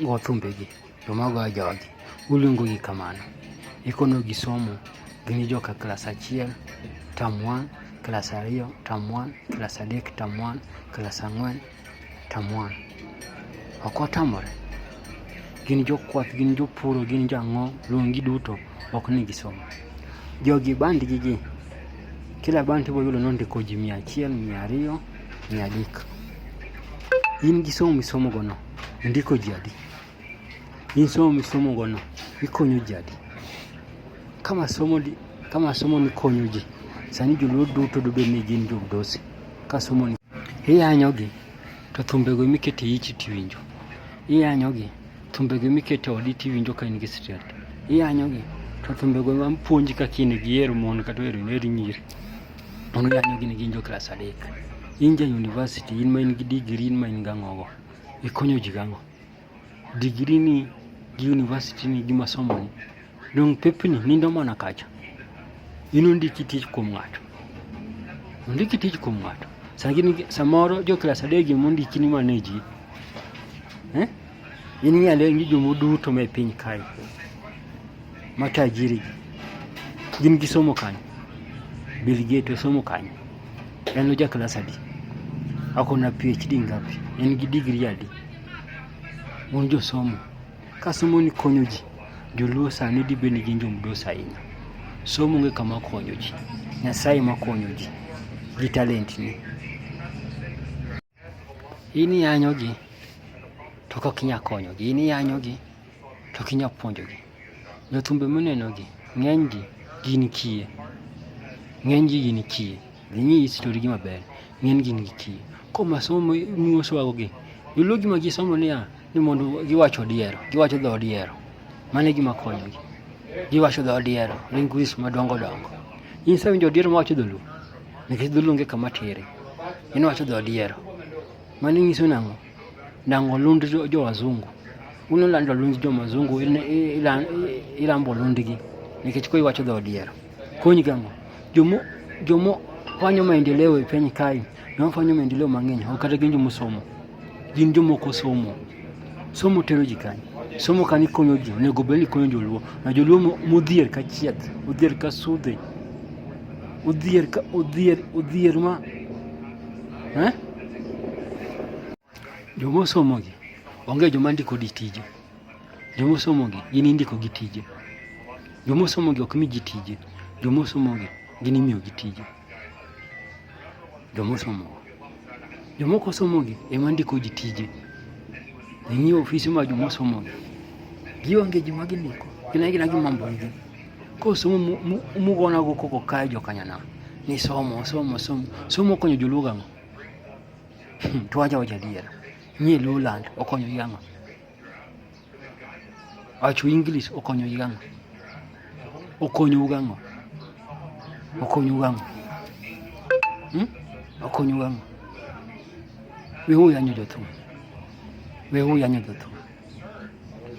go thumbegi to mago a jogi uluongogi kamano ikonogi somo gin joka klas achiel tam 1 klas ariyo tam 1 klas adek tam 1 klas ang'wen tam 1 ok otamore gin jokwath gin jopuro gin jang'o luongi duto ok ni gisomo jogi bandgi gi kila band ibiro yudo nondiko ji mia achiel mia ariyo mia adek in gi somo misomogono ndiko jadi. Hii somo misomo gono ikonyo jadi. Kama somo di, kama somo ni konyo ji. Sani joluo duto dobe ni gin jobdosi. Ka somo ni iyanyogi to thumbego mikete ichi tiwinjo. Iyanyogi thumbego mikete odi tiwinjo ka in gi stress. Iyanyogi to thumbego mapuonji kaka in gi hero mon kata hero nyiri. Ono yanyo gini gin jo klas adek. In ja university, in ma in gi degree, in ma in gang'ogo. Ikonyo ji gang'o. Degree ni gi university ni gi masomo ni. Dong pepni nindo mana kacha. In ondiki tich kuom ng'ato. Ondiki tich kuom ng'ato. Samoro jo klas adek gi mondiki ni maneji. Eh? In ng'e ane ni jomo duto me piny kae ma tajiri gin gi somo kanyo. Bill Gates osomo kanyo. En oja klas adi? Ako na PhD ngapi? En gi digri adi? Un josomo. Ka somo ni konyo ji, joluo sani dibe ni gin jomdos ahinya. Somo ng'e kama konyo ji. Nyasaye ma konyo ji gi talent ni. In iyanyogi to kok inya konyogi, in iyanyogi to ok inya puonjogi. Jothumbe munenogi ng'enygi gin kiye, ng'enygi gin kiye. Dhi ing'i historigi maber, ng'enygi gin kiye. Koro masomo muosowagogi, joluo gima gisomo niya, ni mondo giwach odiero, giwacho dho odiero. Mano e gima konyogi. Giwacho dho odiero, linguists madongo dongo. In isewinjo odiero mawacho dholuo? nikech dholuo onge kama tere en wacho dho odiero mano nyiso nang'o nang'o lund jo wazungu uno lando lund jo mazungu ilambo lundgi nikech koi wacho dho odiero kony gang'o jomo jomo fanyo maendeleo e piny kae ne wafanyo maendeleo mang'eny ok kata gin jomosomo Gin jomoko somo. Somo tero ji kanye? Somo kani konyo ji, onego bed ni konyo joluo. Na joluo modhier ka chieth, odhier ka sudhe, odhier ka odhier, odhier ma eh? Joma osomo gi onge joma ndiko di tije. Joma osomo gi gin indiko gi tije. Joma osomo gi ok mi ji tije. Joma osomo gi gin imiyo gi tije. Joma osomo Jomoko somogi ema ndiko ji tije. Ninyi ofisi ma joma somogi gionge gima gindiko, gin agina gi mambo gi. Koro somo mugonago koko kae jokanyana ni somo somo somo somo konyo joluo gang'o? Hmm, to wacha wacha adiera, nyie Luoland okonyo gi ang'o? Acho English okonyo gi gang'o? Okonyo gang'o? Okonyo gang'o? Hmm? Okonyo gang'o? We huyu anyo jotu. We huyu anyo jotu.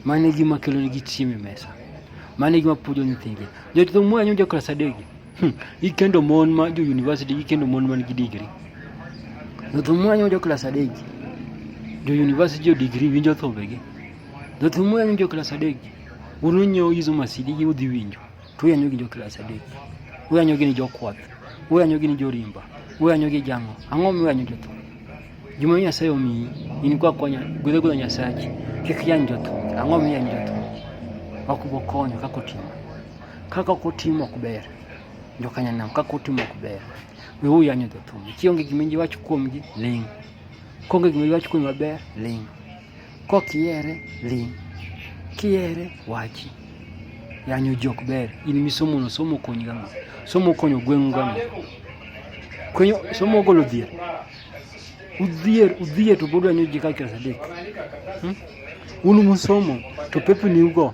Mane gima kelo ni gichimi mesa. Mane gima pujo nyithingi. Jotu mwa anyo jokla sadegi. Hmm, ikendo mon ma jo university ikendo mon man gi degree. Jothumwa nyo jo class adek. Jo university jo degree winjo thobegi. Jothumwa nyo jo class adek. Unu nyo izo masidi gi udhi winjo. To yanyo gi jo class adek. Uyanyo gi ni jo kwath. Uyanyo gi ni jo rimba. Uyanyo gi jango. Ang'o mi uyanyo jothum? Juma Nyasaye omiyi in kwa konya gwedhe gwedhe Nyasachi kik yany jothum. Ang'o mi yany jothum? Wakubo konyo kako timo. Kaka ok otimo ok ber. Jokanyanam kaka otimo ok ber. We u yanyo the thum. Kionge gima iwacho kuomgi ling. Konge gima iwacho kuomgi maber ling. Kok iere ling. Kiere wachi. Yanyo jok ber. In misomo no somo konyi gama. Somo konyo gweng'u gama. Konyo somo golo dhier. Udhier udhier to bodo yanyo jika kira sadek. Hmm? Unu musomo to pepe ni ugo.